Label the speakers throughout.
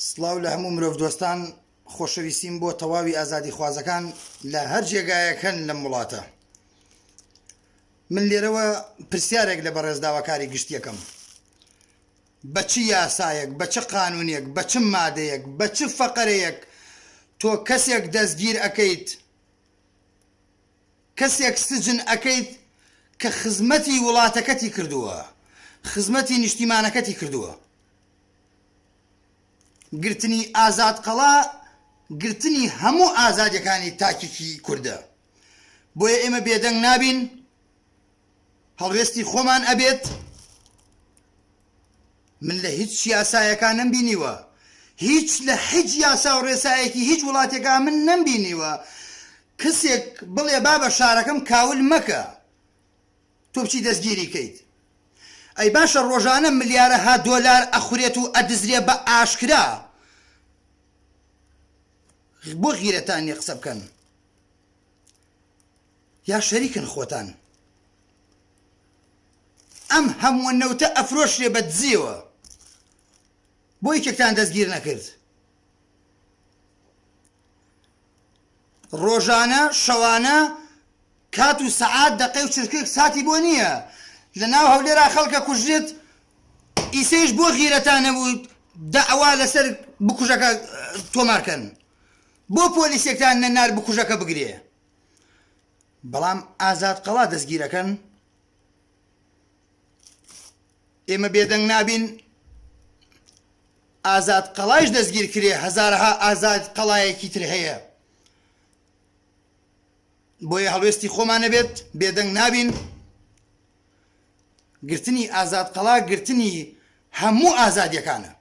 Speaker 1: سڵاو لە هەموو مرۆڤ دۆستان خۆشەویستیم بۆ تەواوی ئازادی خوازەکان لە هەر جێگایەکەن لەم وڵاتە من لێرەوە پرسیارێک لە بەڕێزداواکاری گشتیەکەم بە چ یاسایەک بە چ قانونێک بە چ مادەیەک بە چ فەقەرەیەک تۆ کەسێک دەستگیر ئەەکەیت کەسێک سجن ئەکەیت کە خزمەتی وڵاتەکەتی کردووە خزمەتی نیشتیمانەکەتی کردووە گرتنی ئازاد قەڵا گرتنی هەموو ئازادیەکانی تاکێکی کوردە بۆیە ئێمە بێدەنگ نابین. هەڵوێستی خۆمان ئەبێت، من لە هیچ یاسایەکا نەمبینیوە، هیچ لە هیچ یاسا و ڕێسایەکی هیچ وڵاتێکا من نەمبینیوە کەسێک بڵێ بابە شارەکەم کاول مەکە، تۆ بچی دەستگیری کەیت. ئەی باشە ڕۆژانە ملیارەها دۆلار ئەخورێت و ئەدزرێ بە ئاشکرا، بۆ غیرەتان نیە قسە بکەن؟ یا شەریکن خۆتان ئەم هەمووە نەوتە ئەفرۆشرێ بە دزیەوە بۆ یەکێکتان دەستگیر نەکرد ڕۆژانە شەوانە کات و سەعات دەقەی و چرکێک ساتی بۆ نییە لە ناو هەولێرا خەڵکە کوژێت ئیسەیش بۆ غیرەتان نەبوو داوا لەسەر بکوژەکە تۆمارکەن بۆ پۆلیسێکتان نەنار بکوژەکە بگرێ بەڵام ئازاد قەڵا دەستگیرەکەن ئێمە بێدەنگ نابین ئازاد قەڵایش دەستگیر کرێ هەزارها ئازاد قەڵایەکی تر هەیە بۆیە هەڵوێستی خۆمانە بێت بێدەنگ نابین گرتنی ئازاد قەڵا گرتنی هەموو ئازادیەکانە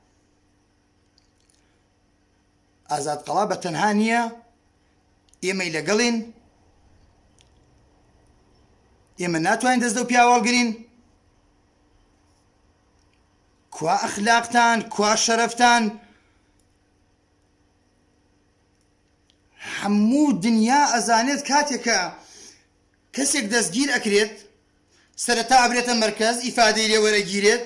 Speaker 1: ئازاد قەڵا بە تەنها نییە ئێمەی لەگەڵین ئێمە ناتوانین دەست دەو پیاوەڵگرین کوا ئەخلاقتان کوا شەرفتان هەموو دنیا ئەزانێت کاتێکە کەسێک دەستگیر ئەکرێت سەرەتا ئەبرێتە مرکز ئیفادەی لێوەرەگیرێت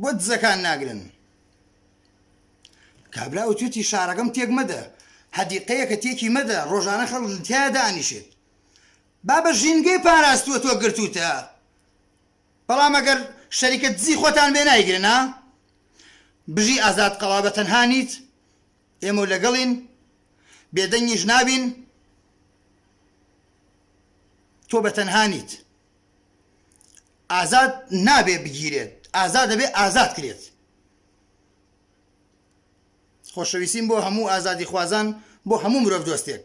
Speaker 1: بۆ دزەکان ناگرن کابرا و توێتی شارەکەم تێک مەدە هەدیقەیەکە تێکی مەدە ڕۆژانە خەڵ تیا دانیشێت بابە ژینگەی پاراستووە تۆ گرتوتە بەڵام ئەگەر شەریکە دزی خۆتان بێ نایگرنا بژی ئازاد قەڵا بە تەنها نیت ئێمە لەگەڵین بێدەنگیش نابین تۆ بە تەنها نیت ئازاد نابێ بگیرێت ئازاد دەبێ ئازاد کرێت خۆشەویستیم بۆ هەموو ئازادی خوازان بۆ هەموو مرۆڤ دۆستێک